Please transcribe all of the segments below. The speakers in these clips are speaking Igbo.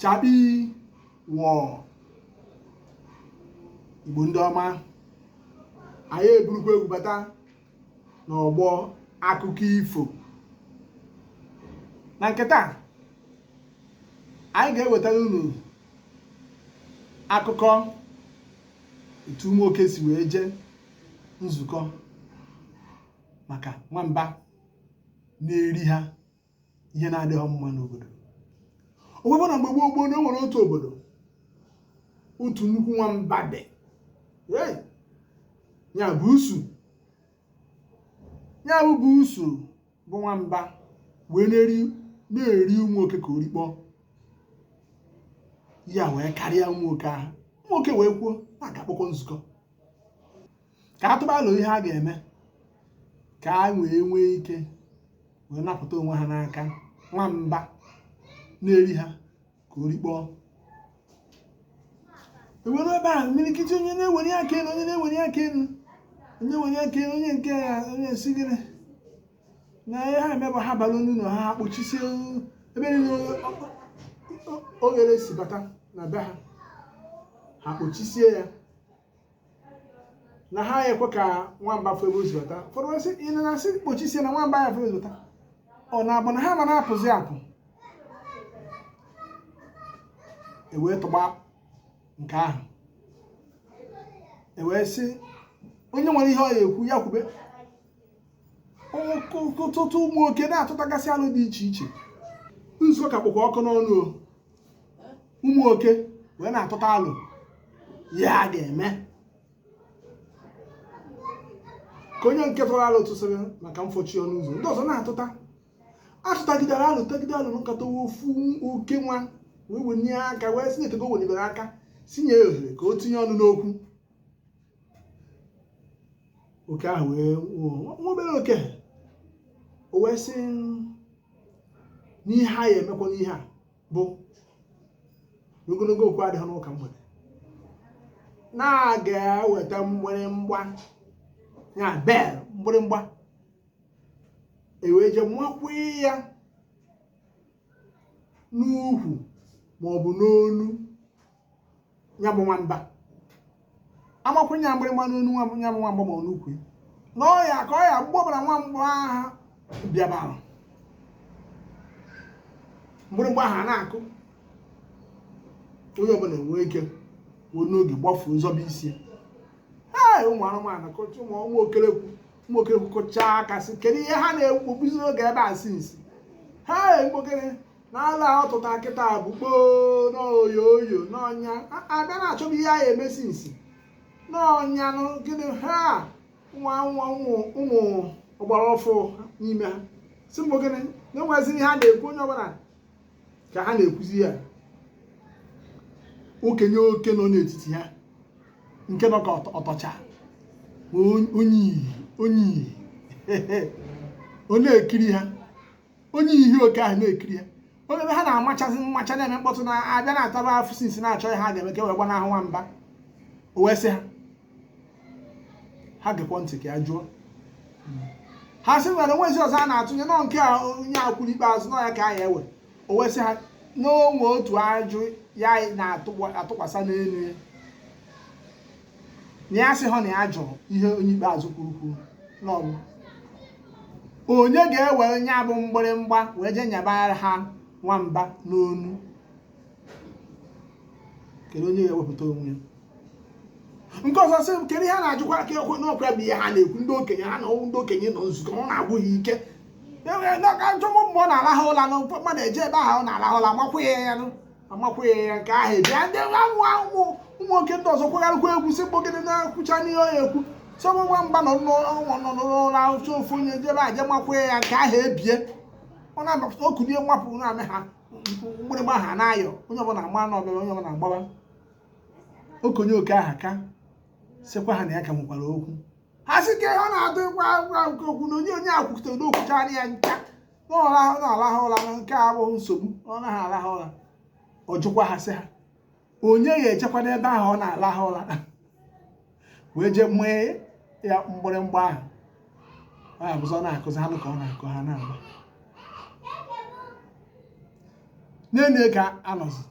chakpii wọọ igbo ndị ọma anyị eburukwa egwu bata n'ọgbọ akụkọ ifo na nke taa anyị ga-ewetara unu akụkọ etu ụmụ oke si wee jee nzukọ maka nwamba na-eri ha ihe na-adịghị mma n'obodo o wee bụ na mgbe gboo gboo na o nwere otu obodo otu nnukwu nwamba dị ya buusu ya bụ buusu bụ nwamba wee na-eri na-eri ụmụ oke ka orikpọ ya wee karịa ụmụ oke ahụ ụmụ oke wee kwuo na a ga-akpọkọ nzukọ ka a tụba alo ihe a ga-eme ka ha wee nwee ike wee napụta onwe ha n'aka nwamba na-eri ha ka orikpọ e wee ruo ebe ahụ imirikiti onye na-ewere aka elu onye na-ewere aka elu onye were aka elu onye nke ya onye sịrị na ihe ha ya-eme bụ ha bara ụnọ ha kpochisie ebe niile oghere si bata na be ha ha kpochisie ya na ha ekwe ka nwamba fụ ebe o si bata ụfọdụ wee sị na a sị kpochisie na nwamba ya-afụ ebe o si bata ọ na-abụ na ha ama na-apụzi apụ e wee tụba nke ahụ e wee sị onye nwere ihe ọ ya-ekwu ya kwube ọtụtụ ụmụ oke na-atụtagasị alo dị iche iche nzukọ ka kpụkwa ọkụ n'ọnụ ụmụ oke wee na-atụta alo ihe a ga-eme ka onye nke tụrụ alo tụsịrị maka mfochi ọnụ ụzọ ndị ọzọ na-atụta atụtagide alo tagide alo nkata ofu oke nwa wee wenie aka wee sị na eteego wenibere aka sị nye ohere ka o tinye ọnụ n'okwu oke ahụ bụ nwa obere oke o wee sị na ihe a ya-emekwa n'ihe a bụ na ogologo okwu adịghị n'ụka mgbede na a ga-eweta mgbịrịmgba ya bell mgbịrịmgba e wee jee makwa ya n'ukwu ma ọ bụ n'onu ya bụ nwamba a makwụnye ya mgbịrịmgba n'onu ya bụ nwamba ma ọ n'ukwu ya na ọ ya ka ọ ya mgbe ọbụla nwamba ahụ bịabara mgbịrịmgba ahụ a na-akụ onye ọbụla enwee ike wee n'oge gbafuo zọba isi ya ee ụmụ anụmanụ kụcha ụmụ ụmụ okelekwu ụmụ okelekwu kụchaa aka sị kedu ihe ha na-egbuziri oge ebe a since ha mgbokere n'ala ọ tụta kịta bụ kpoo n'oyo oyo n'ọnya abịa na-achọba ihe ha ya-eme sinsi n'ọnya nụ gịnị ha nwa nwa ụmụ ụmụ ọgbara ọfụ n'ime ha sị bụ gịnị na-enwezi ihe ha na-ekwu onye ọbụla ka ha na-ekwuzi ya okenye oke nọ n'etiti ha nke nọ ka ọtọ- ọtọcha onye iyi onye iyi ọ na-ekiri ha onye ihe oke ahụ na-ekiri ha onye ebe ha na-amachazi mmacha na-eme mkpọtụ na abịa na-ataba afụ sinsi na-achọ ihe ha ga-eme ka e wee gbanahụ nwamba o wee sị ha ha gekwa ntị ka ya jụọ ha sị nwere onwezi ọzọ a na-atụnye n'ọ nke a onye a kwuru ikpeazụ n'ọ ya ka a ya-ewe o wee sị ha n'o nwe otu ajụ ya na-atụkwasa n'elu ya na ya sị ha na ya jụrụ ihe onye ikpeazụ kwuru kwuru n'ọ bụ onye ga-ewere nya bụ mgbịrịmgba wee jee nyabara ha nwamba n'onu kedu onye ga-ewepụta onwe ya nke ọzọ sị kedu ihe a na-ajụkwa ka ekwe n'ọkwa bụ ihe ha na-ekwu ndị okenye ha na ndị okenye nọ nzukọ ọ na-agwụ ha ike enwere ndị ọka njọmụ mgbe ọ na-alahụ ụla na mmadụ eje ebe ahụ ọ na-alahụ ụla makwa ya ya nụ amakwụghị ya nke ahụ ebie ndị nwa nwa ụmụ ụmụ nwoke ndị ọzọ kwagharịkwa egwu si kpọgide na-ekwucha n'ihe ọ ya ekwu sọ mgbe nwamba nọ n'ụla nọ n'ụla ahụcha ofu onye jebe aje makwụghị ya nke ahụ ebie ọ na-abapụta o kunie nwapụ na-amị ha mgbịrịgba ha na-ayọ onye ọbụla agba na ọbịa onye ọbụla agbawa okenye oke aha ka sịkwa ha na ya ka nwekwara okwu ha sị ka ihe ọ na-adụ ịgwa agwa nke okwu na onye onye a kwukọtara n'o kwuchaana ya ncha na-alahụ ụra nke a abụghị nsogbu ọ naghị alahụ ụra ọ jụkwa ha sị ha onye ya ejekwanụ ebe ahụ ọ na-alahụ ụra wee jee mee ya mgbịrịmgba ahụ ọ ya-ebuzọ na-akụzi anụ ka ọ na-akụ ha na-agba nene ka anọzi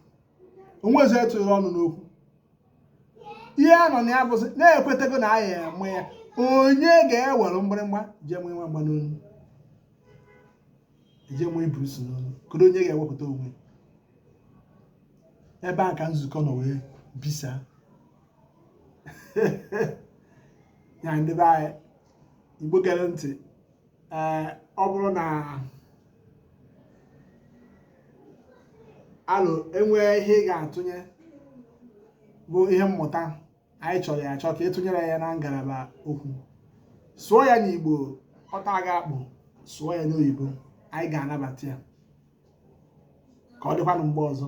onwezi etụrụ ọnụ n'okwu ihe a nọ na ya bụzi na ekwetego na a ya-eme ya onye ga-ewere mgbịrịmgba jee mụ nwamba n'onu jee mụ iburusu n'onu kedu onye ga-ewepụta onwe ebe a ka nzukọ nọ wee bisịa ndị be anyị igbo gere ntị ee ọ bụrụ na alụ enwee ihe ị ga-atụnye bụ ihe mmụta anyị chọrọ ya achọ ka ị tụnyere ya na ngalaba okwu sụọ ya n'igbo ọ taa gị akpụ sụọ ya n'oyibo anyị ga-anabata ya ka ọ dịkwanụ mgbe ọzọ